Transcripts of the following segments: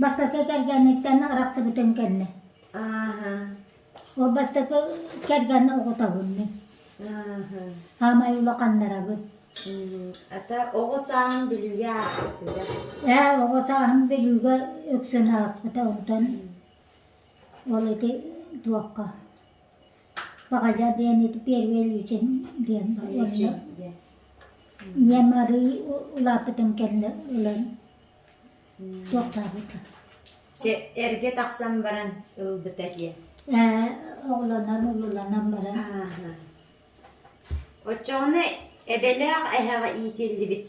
Бастакы кэргэниттэн арахсыбытын кэннэ. Ааһа. Ол бастакы кэргэн оҕотоһуннун. Ааһа. Хаамай улаханнарабын. Ата оҕо сааһын Бүлүүгэ ааспытыга. Ээ, оҕо сааһым Бүлүүгэ үксүн ааспыта онтон ол ити туохха Баҕайа диэн ити первый Илүүсин диэн онно ийэм арыы улааппытым кэннэ ылан Дьэ, эргэ тахсан баран ылбыта диэн. Ээ, оҕолонон, улуланан баран. Ааһа. Оччоҕуна эбэлээх эһэҕэ иитиллибит.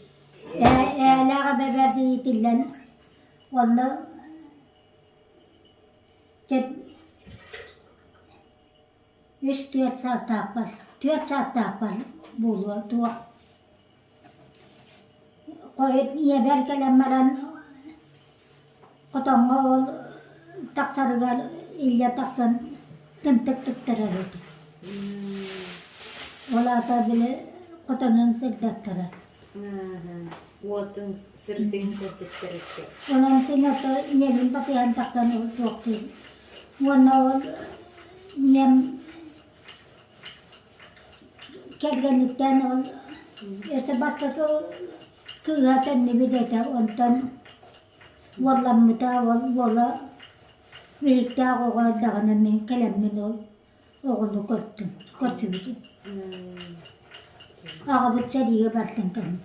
Ээ, ээлээх эбэбэрдэ иитиллэн онно үс-түөрт саастаахпар, түөрт саастаахпар буолуо туох ийэбэр кэлэн баран хотоҥҥо ол тахсарыгар илдьэ тахсан тэмтик туттарар этэ ол аата били хотонун сырдаттарар онон син ото ийэбин батыйан тахсан ол суохтуун уонна ол ийэм Кэргэниттэн ол өссө бастакы кыыһа төннү бүтэтэ онтон уолламмыта ол уола Биһиктээх оҕо эрдэҕинэ мин кэлэммин ол оҕону көрдүм көрсүбүтүм аҕабыт сэриигэ барсан кэлбит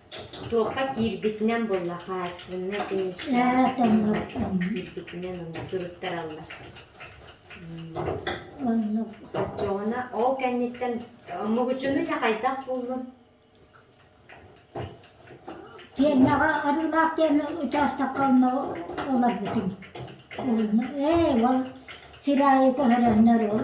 Туохха киирбитинэн буолла, хаһаайыстыбаннай иниспиэктордарын киирбитинэн суруттараллар. Оччоҕуна ол кэнниттэн Мугучунуйа хайдах буллун? Тиэннэҕэ Арыылаах диэн учаастакка олорбутум. Ээ, ол сир аайы көһөрөннөр ол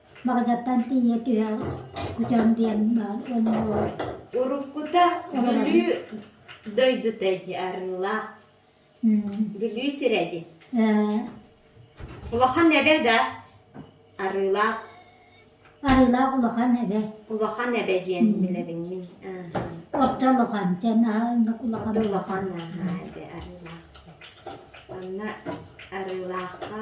Баҕадаттан тиийэ түһэ көтөн диэн баар буолар. Уруккута Бүлүү дойдута дии арыылаах. Бүлүү сирэ дии. Улахан эбэ да арыылаах. Арыылаах улахан эбэ. Улахан эбэ диэн билэбин мин. Орто улахан диэн улахан. Улахан аһаа эбэ арыылаах. Онно арыылаахха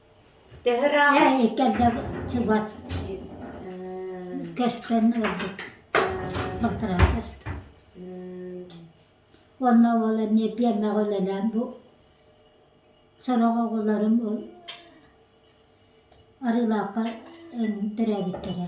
Ээ, кэлэ чугас көстөн ылбыт балтараатар. Уонна ол эмиэ пиэрмэҕэ үлэлээн бу сорох оҕолорум Арыылаахха төрөөбүттэрэ.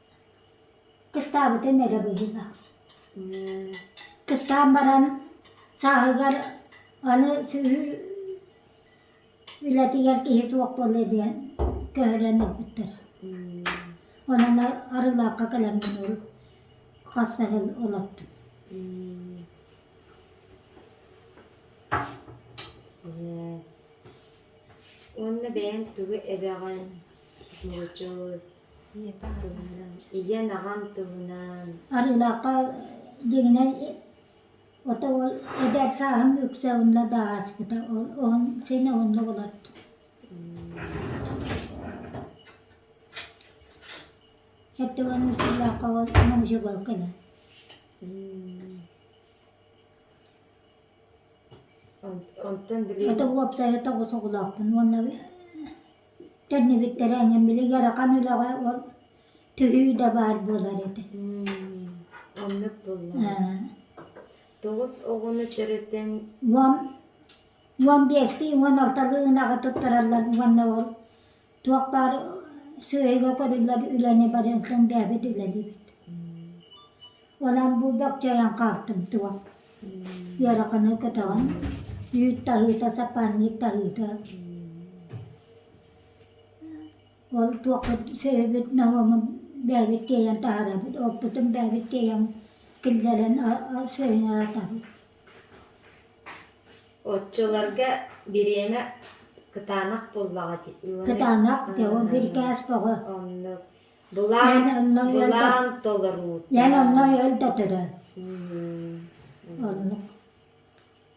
Кыстаабытым эрэ быһыыга. Кыстаан баран сааһыгар аны үлэтигэр киһи суох буолуо диэн көһөрөн ылбыттар. Онон Арыылаахха кэлэммин ол хас да сыл олордум. Уонна бэйэҥ тугу эбэҕин нууччалыы Ийэн аҕам туһунан Арыылаахха дьиҥинэн ото ол эдэр сааһым үксэ онно да ааспыта ол он син оннук олордум Эрдеван Мусуллаахха ол муниципал кэлэн Онтон билигин Ото уопсайа тоҕус оҕолоохпун уонна Төннүбүттэрэ эҥин били ыарахан үлэҕэ ол түһүү да баар буолар этэ Оннук буоллаҕа. Тоҕус оҕону төрөтөн уон уон биэстии уон алталыы ынаҕы туттараллар уонна ол туох баар сыыйга көрүллэр үлэни барыҥ сындээбит үлэлиибит Онон бу бөкчөйөн хаалтымтыбат. Ыараханы көтөҕөн, үүт таһыыта, сапарник таһыыта. Ол туохпут сөһүбүт номомун бэйэбит тиэйэн таһаарабыт, оппутун бэйэбит тиэйэн киллэрэн сөһүн аатабыт. Оччолорго бириэмэ кытаанах буоллаҕа дии. Кытаанах, ол биркээс бөҕө. Оннук. Былаан, былаан толоруу. Ян онно өл да төрө. Оннук.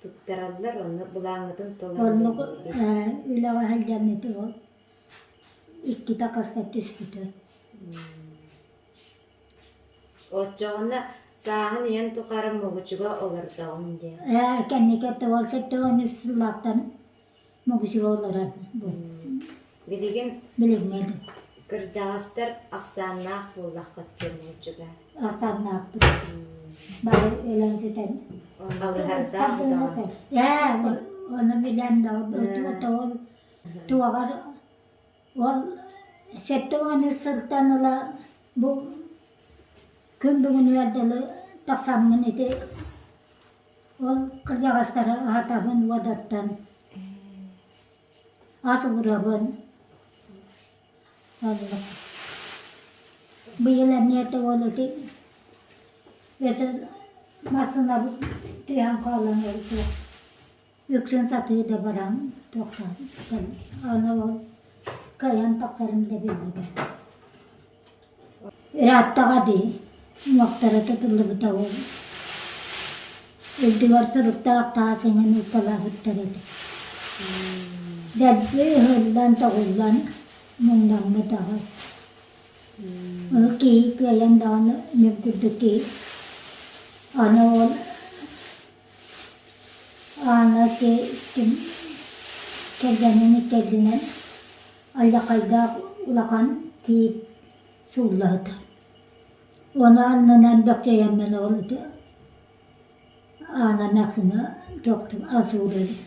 Туттараллар ону былааҥытын толоруу. Оннук үлэҕэ сылдьан ити ол иккитэ хаста түспүтэ. Оччоҕуна сааһын ийэн тухары Могучуга олордоҕум диэн. Ээ, кэнники тоҕо сette он үс сыллаахтан могузеллара билигин билигин кырдьаҕастар ахсааннаах буоллаххытча муочута ахсааннаахпыт бары өлөөтүтэн алыһардаах даҕаны ээ ону билэн тоҕол туоҕар ол сэттэ уонус сылтан ыла бу күн бүгүнүгэр дылы тахсаммын ити Ол кырдьаҕастары аһатабын уодаттан, ас уурабын. Оннук. Быйыл эмиэ тугул ити эти массыынабыт тыаһан хаалан өлдө. үксүн сатыы да баран тахсан аны ол кыайан тахсарым да биллибэ ырааттаҕа дии уҥуохтара тутуллубута ол үрдүгэр соруктаах таас эҥин ууталаабыттар этэ дэлби ыһыллан тоҕуллан муҥнаммыт аҕай ол киһи кыайан даҕаны мүм курдук киһи аны ол Аана икки кэргэнин иккиэннэн алдьархайдаах улахан тиит сууллаһыта. Ону аннынан бэхжэйэммин ол ити Аана Мэксиҥэ тохтуу ас уурар эбит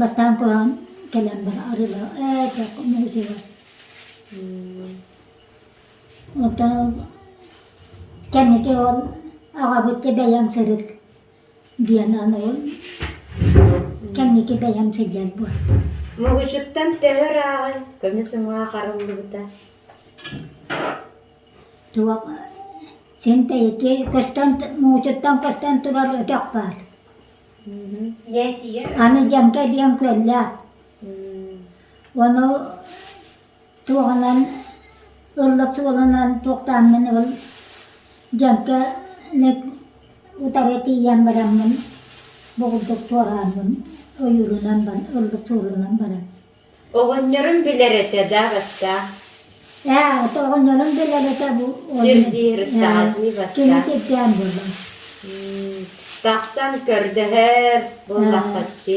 Бастаан куһаҕан кэлэн баран арыылаах ээ дьэ муҥутуйар оттон кэнники ол аҕабыт бэйэм сырыт диэн аны ол кэнники бэйэм сылдьар буолбут Мугучуттан төһө ырааҕын көмүс уҥа харыллыбыта туох син тэйиччи көстөн муҥутуттан көстөн турар өтөх баар Аны дьэҥкэ диэн күөллээх. Ону туоһунан ыллык суолунан туохтааммын ыл дьэҥкэни утары тиийэн бараммын бугулдук туорааммын ойуурунан ыллык суолунан баран Оҕонньорум билэр этэ да бастаан. Ээ, ото оҕонньорум билэр этэ бу. Сирдиир Таатыы бастаан. Кини кирдээн буолла. Тахсан көрдөһөр буоллаххаччы.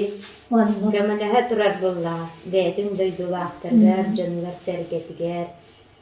Көмөлөһө турар буоллаҕа. Бэйэтин дойдулаахтарыгар, дьонугар-сэргэтигэр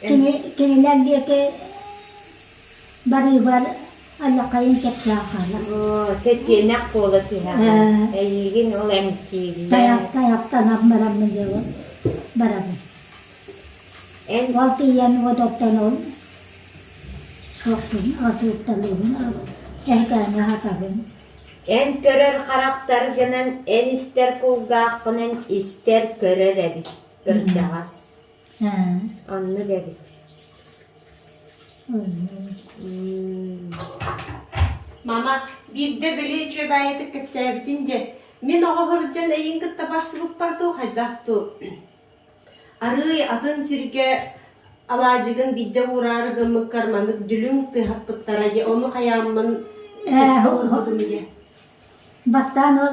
Кини кинилэр диэки барыыбар аллакайын кэпсэ ахаана. Оо, тэтиэнэх буола түһэҕин. Эйиигин ол эмтииллэр. Тайах тайахтанан бараммын дьолу барабын. Ол тиийэн одоттонон сохтун, асууттанабын, эһэтээҥи хатабын. Эн көрөр харахтар гынан, эн истэр кулгааххынан истэр, көрөр эбит, кырдьаҕас. Анна бэбит. Мама, биирдэ били үчүөбээйитик кэпсээбитин дьэ, мин оҕо сылдьан эйиҥ кытта барсыбыппар дуу, хайдах дуу? Арыый атын сиргэ алаадьыгын биирдэ уураары гыммыккар маннык дүлүҥ тыһаппыттара дьэ, ону хайааммын эсэппит уурбутум дьэ. Бастаан ол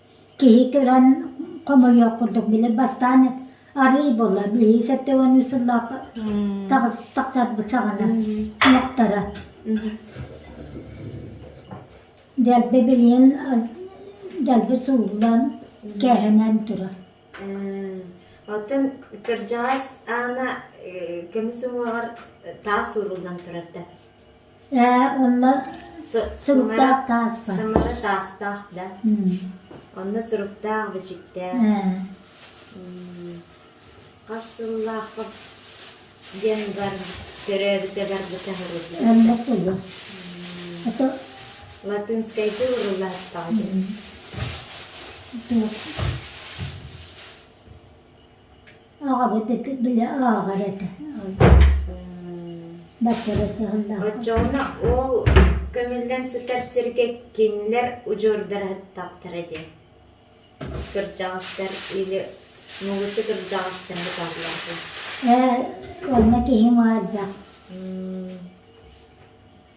Киһи көрөн хомойуох курдук били бастаан арыый буолла билии сэттэ уоннуу сыллаах тахсарбыт саҕана ынахтара дэлби билиэн дэлби сууллан кээһэнэн турар оттон кырдьаҕас аана көмүс уҥуоҕар таас ууруллан турар да Ээ, онно суруктаах тааспар. Сымара таастаах да. Онно суруктаах, бичиктээх. Хас сыллаахха диэн бар төрөөбүтэ барбыта сырыта. Эммэ тылы. Это латынскайга уруллааттаҕа диэн. Туох? Аҕабыт ити били ааҕар этэ. Бачча сыһыннаах. Оччоҕуна ол көмүллэн сытар сиргэ кинилэр удьуордараһыттахтара дии. Кырдьаҕастар или мулучу кырдьаҕастар быталлар дии. Ээ, онно киһи маадах.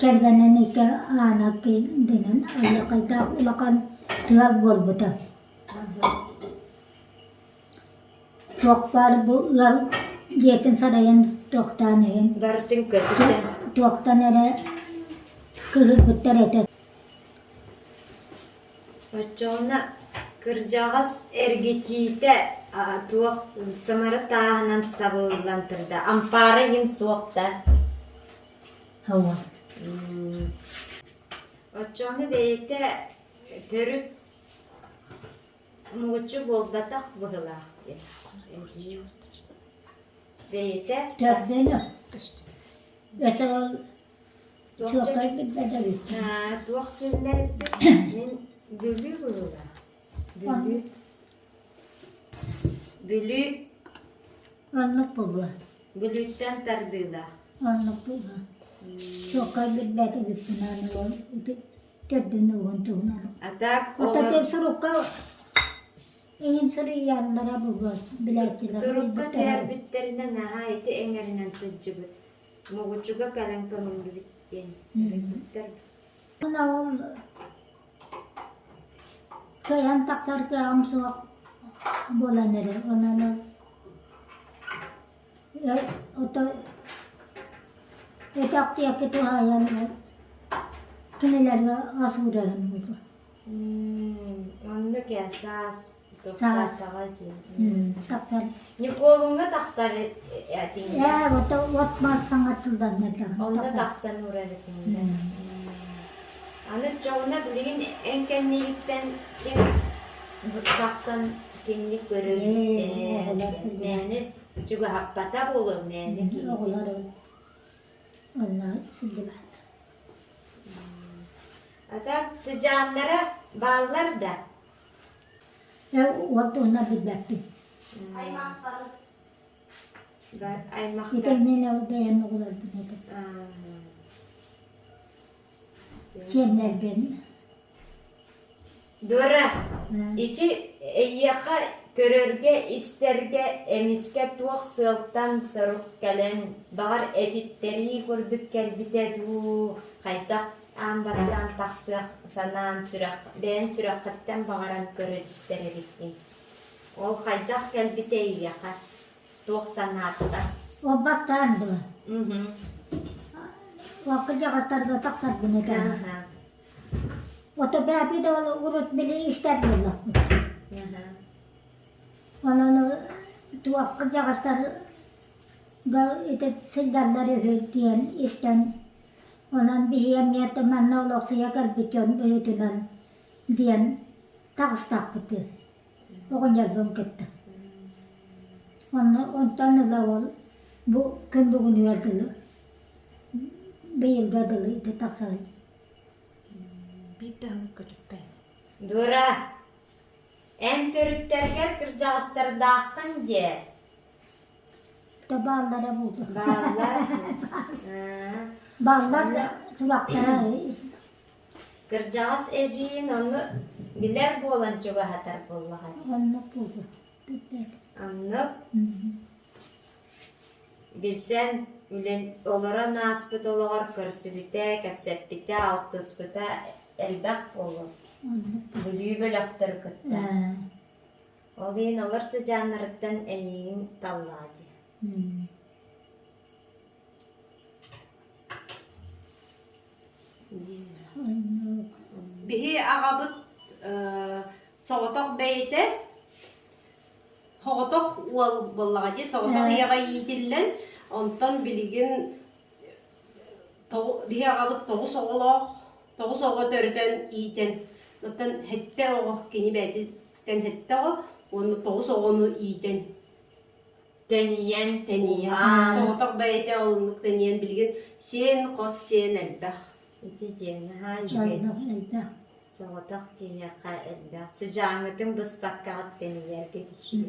Кэргэнин ити аана дэнэн олохойдоох улахан тыал буолбута. Туох баар бу ыал дьиэтин сарайын туохтаан иһин туохтан эрэ кыыһырбыттар этэ Оччоҕуна кырдьаҕас эргитиитэ туох самара тааһынан сабыллан турда, ампаара иһин суох да Оччоҕуна бэйэтэ төрүт муҥучу буолбатах быһыылаах диэн бэйэтэ Туохсун туох силлэрбит мин Бүлүү быһыылаах Бүлүү Бүлүү оннук буолуо Бүлүүттэн тардыылаах оннук буолуо чуоккай билбэт үбүппүнээн төрдүн угун туһунан атаак ототи сурукка иһин суруйааннара буолуо билээччилэр сурукка тиэрбиттэринэ наһаа ити эҥэринэн сылдьыбыт Моҕучуга кэлэн көҥүллүбүт диэн өлбүттэр Оноҕун кыайан тахсар кыаҕым суох буолан эрэр онон өтөх диэки туһаайан кинилэргэ ас уурарым онно кэ саас Николуҥҥа тахсар этиҥҥэ. Ээ, вот от массаҥа тылданна тахсан. Онно тахсан урар этиҥҥэ. Аны чоҕуна билигин эн кэннигиттэн ким тахсан кинини көрөр-истэр, мээнэ чугаһаппата буолуо, мээнэ киһи. Оҕолор онно сылдьыбат. А так сыдьааннара бааллар да, Эн уот туһунан билбэппин. Ити мин ол бэйэм оҕолорбун этим. Сиэннэрбин. Дора, ити эйиэхэ көрөргө-истэргэ эмискэ туох сыалтан сорук кэлэн, баҕар этиттэрии курдук кэлбитэ дуу, хайдах Аан бастаан тахсыах санаан сүрэх, бэйэн сүрэххиттэн баҕаран көрөр истэр эбиккин. Ол хайдах кэлбитэй эйиэхэ? Туох санааттан? Ол баттаан дуо? Уокка дьаҕастарга тахсарбын этэн. Ото бэби да ол урут били истэр буоллахпыт. Онон туохка дьаҕастар да ити сылдьаллар үһү диэн истэн Онон биһи эмиэ да манна олохсуйа көрбүт дьон быһыытынан диэн таҕыстахпытыы оҕонньорбун кытта. Онно онтон ыла ол бу күн бүгүнүгэр дылы быйылга дылы ити тахсаҕын. Биир да өҥ көтүппэт. Дура, эн төрүттэргэр кырдьаҕастардааххын дии. Бааллара буолуо. Бааллар. Бааллар сурахтара Кырдьаҕас эдьиийин онну билэр буолан чугаһатар буоллаҕа дии. Оннук буолуо. Билбэт. Оннук. Билсэн үлэн олорон ааспыт олоҕор көрсүбүтэ, кэпсэппитэ, алтыспыта элбэх буолуо. Бүлүү бөлөхтөрү кытта. Ол иһин олор сыдьааннарыттан эйиигин таллаҕа дии Биһи аҕабыт соҕотох бэйэтэ соҕотох уол буоллаҕа дии соҕотох ийэҕэ иитиллэн онтон билигин биһи аҕабыт тоҕус оҕолоох тоҕус оҕо төрөтөн иитэн оттон сэттэ оҕо кини бэйэтиттэн сэттэ оҕо уонна тоҕус оҕону иитэн тэнийэн тэнийэн соҕотох бэйэтэ олуннук тэнийэн билигин сиэн хос сиэн элбэх ити диэн наһаа элбэх соҕотох киһиэхэ элбэх сыдьааҥҥытын быспаккаҕыт тэнийэргэ düşüyor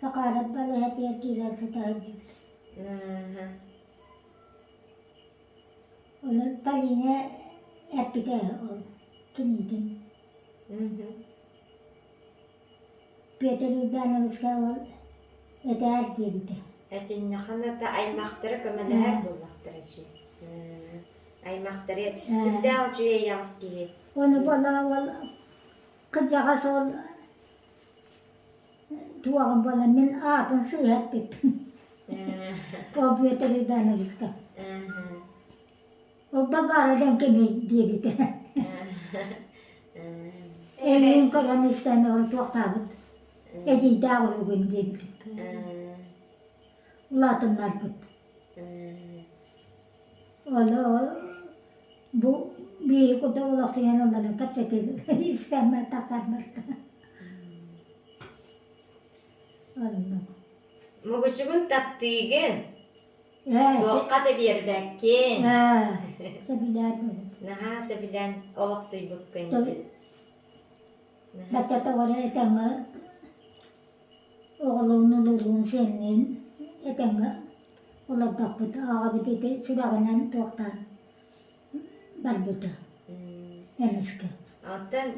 Сахаанап балаһатыгар киирэн сытаҕын эһэ Онон Полина эппитэ ол кинитин Петр Урбановска ол этээр диэбитэ Этиннехан ата аймахтары көмөлөһөр буоллахтара чи аймахтары сүрдээх учуйай аҕыс киһи Ону бола ол кырдьаҕас ол Туоҕум буолан мин аатын сыыһа эппиппин Поп Бүөтүр Ивановичка Урба баара диэн кими диэбитэ Эйигин көрөн истэн ол туохтаабыт Эдьиийдээх уһугун диэбитэ Улаатыннарбыт Ол Бу биири курдук олохсуйан ылларан кэпсэтиилэргэ истэммэр тахсарбыттара оннук Мугучугун таптыыгын ээ туохха да биэрбэккин ээ сөбүлээтим наһаа сөбүлээн олохсуйбуккун бачча тоҕоро этэҥҥэ оҕолуун улуулуун сиэнниин этэҥҥэ олордохпут ааҕабыт ити сүрэҕинэн туохтаан барбыта эмискэ оттон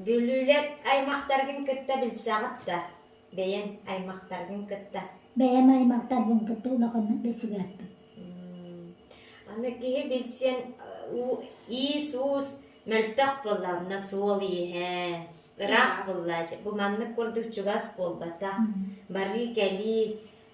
бүлүүлэр аймахтаргын кытта билсэҕит да бэйэҥ аймахтаргын кытта бэйэм аймахтарбын кытта улаханнык билсибэппин аны киһи билсиэн иис-уус мөлтөх буолла онно суол иэһэ ыраах буолла бу маннык курдук чугас буолбатах барыы-кэлии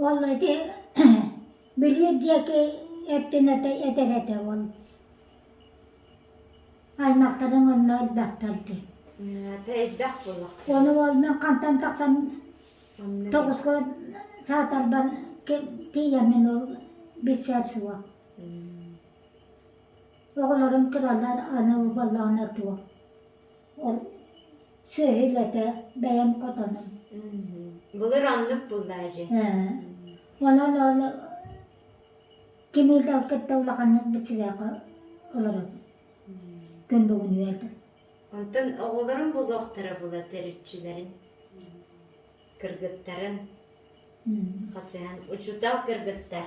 Уолла ити бүлүүр диэки өттүнэт этэр этэ ол аймахтарын онно элбэхтэр дии Ону уол мин хантан тахсан тоҕуско саатарбар тиийэммин ол билсэр суох оҕолорум кыралар аны убалаана туох Сүөһүлэтэ бэйэм хотоном. Былыр оннук буоллаа дьэ. Онон ол кимиил да кытта улаханнык бичибээхэ олоробут. Күн бүгүн үөрдүм. Онтон оҕолорум булуохтара була төрүччүлэрин. Кыргыттарын. Хасыһан учутал кыргыттар.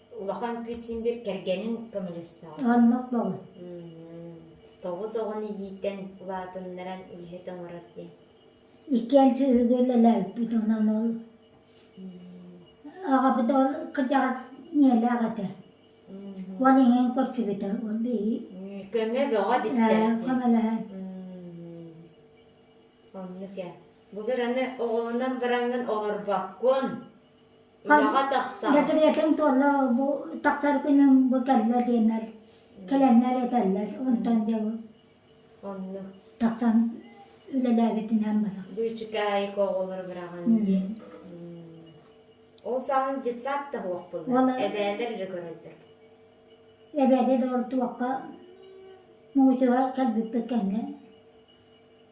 улахан кыыс син биир кэргэнин көмөлөстөҕө. Онно буолла. Тоҕус оҕону иитэн улаатыннаран үлэһит оҥорор диэн. Икки альдьа үгүлэлээбиппит онон ол аҕабыт ол кырдьаҕас ийэлээх этэ. Ол иҥэн көрсүбүтэ ол биһи көмө бөҕө бүттэр. Көмөлөһөн. Оннук ээ. Бу быраны оҕолонон бараҥҥын олорбоккун. Үлэҕэ тахсан. Дэкириэтин туолла бу тахсар күнүн бу кэллэ диэннэр кэлэннэр этэллэр онтон дьэ бу Онно тахсан үлэлээбитинэн барар. быычык аайы оҕолору быраҕан диэн. Ол саҕана детсад да уохпунна. Ол- Эбээтэр эрэ көрөллөр. Эбэбит ол туохха муусуһа кэлбиппит кэннэ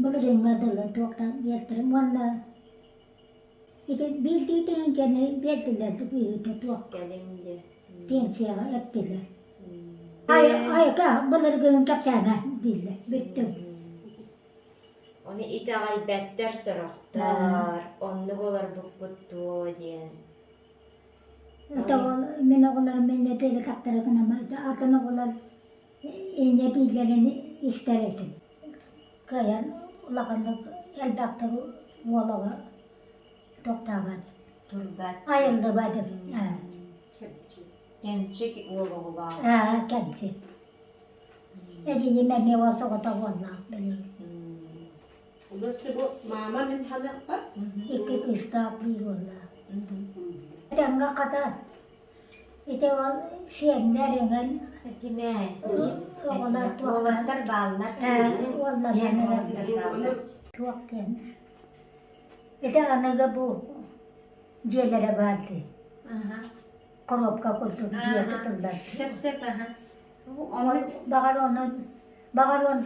Былырыыҥҥа дылы туохтан биэртэрим уонна ити биирдии тэйэн кэлэрин биэрдилэр да быыһыыта туох кэлиҥ диэ пенсияҕа эптилэр Айа айата былыргыһын кэпсээмэ дииллэр бүттүм Ону итэҕэйбэттэр сорохтор оннук олорбуккут дуо диэн Ата ол мин оҕолорум мэннэ диэбэтэхтэрэ гына атын оҕолор инньэ дииллэрин истэр этим. Кыайан улаханнык элбэхтик уолаҕа тохтообот. Турбат. Айыллыбат эбит. Кэмчик уол оҕолаах. Аа, кэмчик. Эдийим эмиэ уол соҕото буолла билигин. Маама мин ханыахпар? Икки кыыстаах биир уоллаах. Эдэмҥэ хата Ити ол сиэннэр эҥин Дьимээтин оҕолор уолаттар бааллар сиэн оҕолор бааллар туох диэн ити аныгы бу дьиэлэрэ баар дии коробка курдук дьиэ тутуллар баҕар онон баҕар он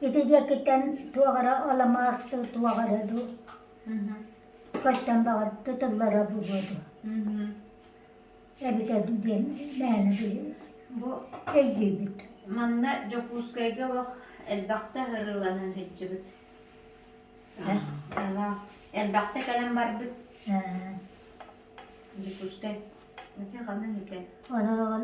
ити диэкиттэн туох эрэ аламаас туох эрэ дуу Көстөн баҕарбыта тыллара бу буолуо эбитэ диэн мээнэ бу өйдүүбүт манна Дьокуускайга олох элбэхтэ ырыаланан сылдьыбыт элбэхтэ кэлэн барбыт Дьокуускай оту ханан итэ онон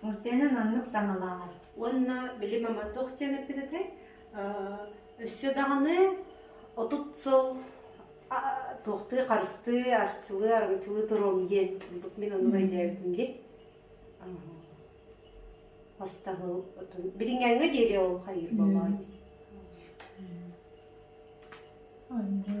Функциянан оннук саҥалааҕа. Уонна били мама туох диэн эппититэй? Өссө даҕаны отут сыл туохтуу харыстыы, арчылыы, аргычылыы туруом диэн ордук мин ону өйдөөбүтүм дии. Хастаһыл отун билиҥҥээҥҥэ диэри ол хайыыр буоллаҕа дии. Анжу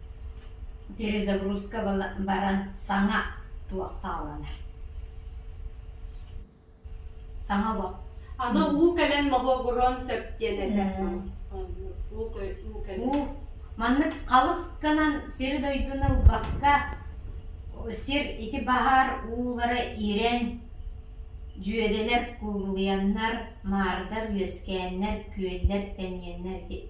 Перезагрузка баран саҥа туох саҕаланар саҥа олох аны уу кэлэн моһуогуруон сөп диэн этэр уу маннык халысканан сир-дойдуну ылбакка сир ити баһаар уулара ирэн дьүөдэлэр куулуйаннар маардар үөскээннэр күөллэр тэнийэннэр ити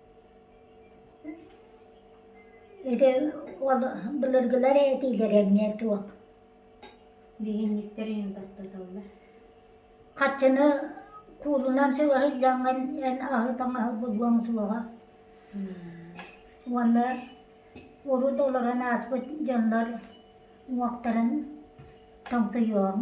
Ити ол былыргылар этиилэрэ эмиэ туох хаччыны куулунан сөҕө сылдьаҥҥын эн аһы таҥаһы булуоҥ суоҕа уонна урут олорон ааспыт дьоннор уҥуохтарын тоҥсуйуоҕуҥ